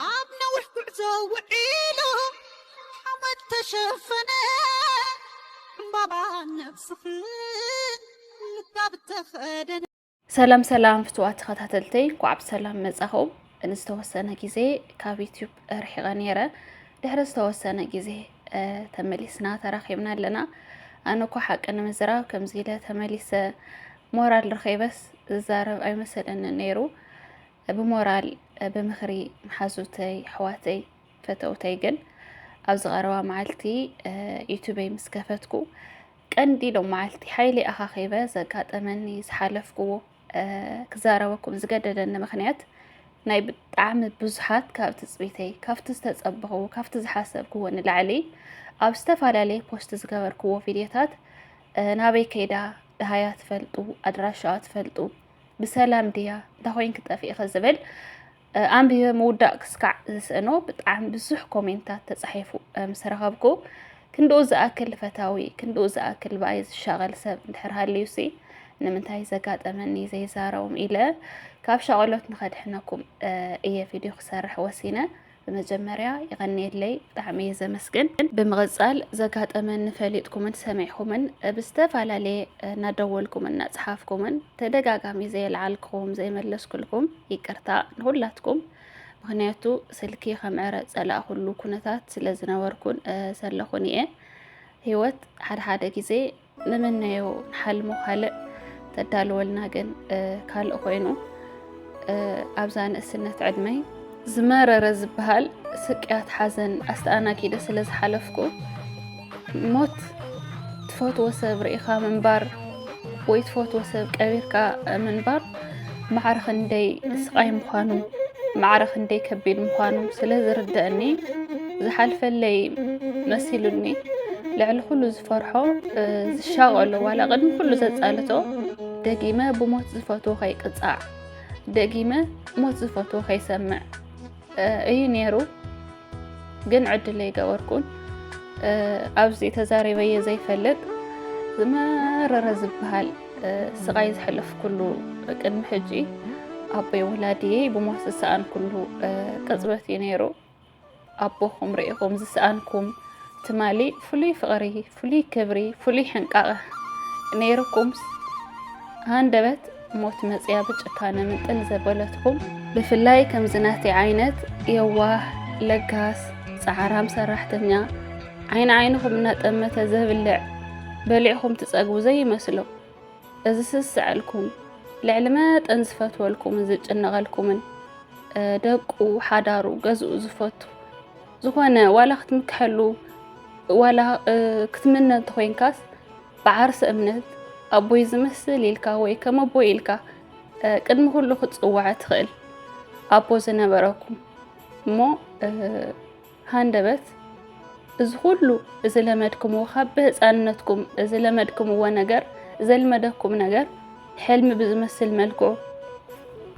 ኣብ ነዊሕ ጉዕዞ ውዒሉ ሓመድ ተሸፈነ ዕምባባ ነብስኽን ምጋብ ተኸደነ። ሰላም ሰላም ፍትዋት ተኸታተልተይ እንኳዕ ብሰላም መጻኹም። ንዝተወሰነ ግዜ ካብ ዩትዩብ ርሒቐ ነይረ ድሕሪ ዝተወሰነ ግዜ ተመሊስና ተራኺብና ኣለና። ኣነ እኳ ሓቂ ንምዝራብ ከምዚ ኢለ ተመሊሰ ሞራል ረኼበስ ዝዛረብ ኣይመሰለኒ ነይሩ። ብሞራል ብምኽሪ መሓዙተይ ኣሕዋተይ ፈተውተይ ግን ኣብዚ ቀረባ መዓልቲ ዩቱበይ ምስ ከፈትኩ ቀንዲ ሎም መዓልቲ ሓይሊ ኣኻኺበ ዘጋጠመኒ ዝሓለፍኩዎ ክዛረበኩም ዝገደደኒ ምክንያት ናይ ብጣዕሚ ብዙሓት ካብ ትፅቢተይ ካብቲ ዝተፀበኽዎ ካብቲ ዝሓሰብክዎ ንላዕሊ ኣብ ዝተፈላለየ ፖስት ዝገበርክዎ ቪድዮታት ናበይ ከይዳ ድሃያ ትፈልጡ ኣድራሻዋ ትፈልጡ ብሰላም ድያ እንታ ኮይንኪ ጠፊእኺ ዝብል ኣንቢበ ምውዳእ ክስካዕ ዝስእኖ ብጣዕሚ ብዙሕ ኮሜንታት ተፃሒፉ ምስ ረኸብኩ ክንድኡ ዝኣክል ፈታዊ ክንድኡ ዝኣክል ብኣይ ዝሻቐል ሰብ እንድሕር ሃልዩሲ ንምንታይ ዘጋጠመኒ ዘይዛረቦም ኢለ ካብ ሻቐሎት ንኸድሕነኩም እየ ቪድዮ ክሰርሕ ወሲነ ብመጀመርያ የቐንየለይ ብጣዕሚ እየ ዘመስግን። ብምቕጻል ዘጋጠመኒ ፈሊጥኩምን ሰሚዕኩምን ብዝተፈላለየ እናደወልኩምን እናጽሓፍኩምን ተደጋጋሚ ዘየልዓልክኹም ዘይመለስኩልኩም ይቅርታ ንኹላትኩም ምክንያቱ ስልኪ ከምዕረ ጸላእኩሉ ኩነታት ስለ ዝነበርኩን ዘለኹን እየ ህይወት ሓድሓደ ግዜ ንመነዮ ንሓልሞ ካልእ ተዳልወልና ግን ካልእ ኮይኑ ኣብዛ ንእስነት ዕድመይ ዝመረረ ዝበሃል ስቅያት ሓዘን ኣስተኣናጊደ ስለ ዝሓለፍኩ ሞት ትፈትዎ ሰብ ርኢኻ ምንባር ወይ ትፈትዎ ሰብ ቀቢርካ ምንባር ማዕረ ክንደይ ስቓይ ምዃኑ ማዕረ ክንደይ ከቢድ ምዃኑ ስለ ዝርደአኒ ዝሓልፈለይ መሲሉኒ ልዕሊ ኩሉ ዝፈርሖ ዝሻቐሎ ዋላ ቅድሚ ኩሉ ዘፃልቶ ደጊመ ብሞት ዝፈትዎ ከይቅፃዕ ደጊመ ሞት ዝፈትዎ ከይሰምዕ እዩ ነይሩ። ግን ዕድል ኣይገበርኩን ኣብዚ ተዛሪበየ ዘይፈልጥ ዝመረረ ዝበሃል ስቓይ ዝሕለፍኩሉ ቅድሚ ሕጂ ኣቦይ ወላድየ ብሞት ዝሰኣንኩሉ ቅፅበት እዩ ነይሩ ኣቦኹም ርኢኹም ዝሰኣንኩም ትማሊ ፍሉይ ፍቕሪ ፍሉይ ክብሪ ፍሉይ ሕንቃቐ ነይሩኩምስ ሃንደበት ሞት መጽያ ብጭካነ ምንጥል ዘበለትኩም ብፍላይ ከምዚ ናተይ ዓይነት የዋህ ለጋስ ጻዕራም ሰራሕተኛ ዓይኒ ዓይንኹም እናጠመተ ዘብልዕ በሊዕኹም ትጸግቡ ዘይመስሎ እዚ ስዝስዐልኩም ልዕሊ መጠን ዝፈትወልኩምን ዝጭነቐልኩምን ደቁ ሓዳሩ ገዝኡ ዝፈቱ ዝኾነ ዋላ ክትምክሐሉ ዋላ ክትምነ እንተኮይንካስ ብዓርሰ እምነት ኣቦይ ዝመስል ኢልካ ወይ ከም ኣቦይ ኢልካ ቅድሚ ኩሉ ክትፅዋዕ ትኽእል ኣቦ ዝነበረኩም እሞ ሃንደበት እዚ ኩሉ እዚ ለመድክምዎ ካብ ብህፃንነትኩም እዚ ለመድክምዎ ነገር ዘልመደኩም ነገር ሕልሚ ብዝመስል መልክዑ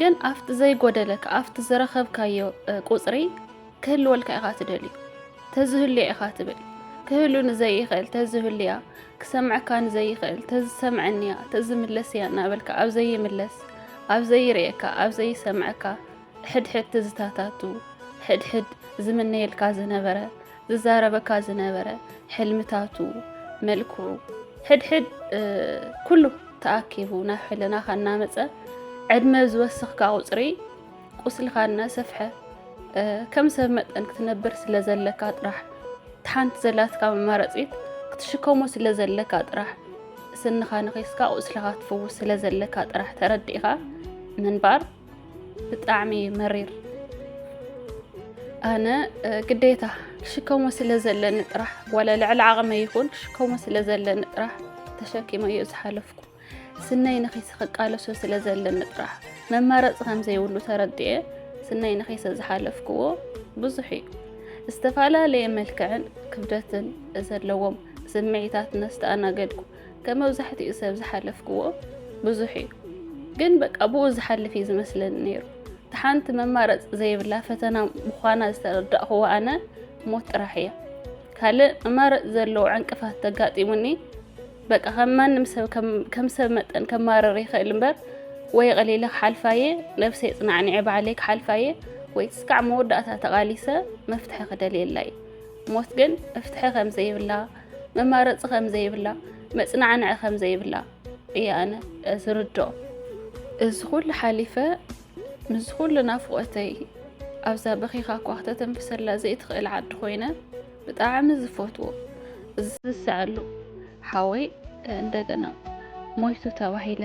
ግን ኣብቲ ዘይጎደለካ ኣብቲ ዝረኸብካዮ ቁፅሪ ክህልወልካ ኢኻ ትደልዩ ተዝህልያ ኢኻ ትብል ክህሉ ንዘይኽእል ተዝህልያ ክሰምዐካ ንዘይኽእል ተዝሰምዐኒያ ተዝምለስያ እናበልካ ኣብ ዘይምለስ ኣብ ዘይርእየካ ኣብ ዘይሰምዐካ ሕድሕድ ትዝታታቱ ሕድሕድ ዝምነየልካ ዝነበረ ዝዛረበካ ዝነበረ ሕልምታቱ፣ መልክዑ፣ ሕድሕድ ኩሉ ተኣኪቡ ናብ ሕልናኻ እናመፀ ዕድመ ዝወሰኽካ ቁፅሪ ቁስልኻ እናሰፍሐ ከም ሰብ መጠን ክትነብር ስለ ዘለካ ጥራሕ ሓንቲ ዘላትካ መማረፂት ክትሽከሞ ስለ ዘለካ ጥራሕ ስንኻ ነኺስካ ቁስልኻ ትፍውስ ስለ ዘለካ ጥራሕ ተረዲእኻ ምንባር ብጣዕሚ እዩ መሪር ኣነ ግዴታ ክሽከሞ ስለ ዘለኒ ጥራሕ ዋላ ልዕሊ ዓቕመ ይኹን ክሽከሞ ስለ ዘለኒ ጥራሕ ተሸኪመ እዩ ዝሓለፍኩ ስነይ ንኺሲ ክቃለሶ ስለ ዘለኒ ጥራሕ መማረፂ ከም ዘይብሉ ተረድኤ ስነይ ንኺሰ ዝሓለፍክዎ ብዙሕ እዩ ዝተፈላለየ መልክዕን ክብደትን ዘለዎም ስምዒታት ነስተኣናገድኩ ከም መብዛሕትኡ ሰብ ዝሓለፍክዎ ብዙሕ እዩ ግን በቃ ብኡ ዝሓልፍ እዩ ዝመስለኒ ነይሩ እቲ ሓንቲ መማረፂ ዘይብላ ፈተና ምዃና ዝተረዳእኽዎ ኣነ ሞት ጥራሕ እያ ካልእ መማረፂ ዘለዎ ዕንቅፋት ተጋጢሙኒ በቃ ከም ማንም ሰብ ከም ሰብ መጠን ከማረር ይኽእል እምበር ወይ ቀሊለ ክሓልፋ እየ ነብሰይ ፅናዕኒዐ ባዕለይ ክሓልፋ እየ ወይ ትስካዕ መወዳእታ ተቓሊሰ መፍትሒ ክደልየላ እዩ ሞት ግን መፍትሒ ከም ዘይብላ መማረፂ ከም ዘይብላ መፅናዕንዒ ከም ዘይብላ እየ ኣነ ዝርድኦ እዚ ኩሉ ሓሊፈ ምስ ኩሉ ናፍቆተይ ኣብዛ በኺኻ እኳ ክተተንፍሰላ ዘይትኽእል ዓዲ ኮይነ ብጣዕሚ ዝፈትዎ ዝስስዐሉ ሓወይ እንደገና ሞይቱ ተባሂለ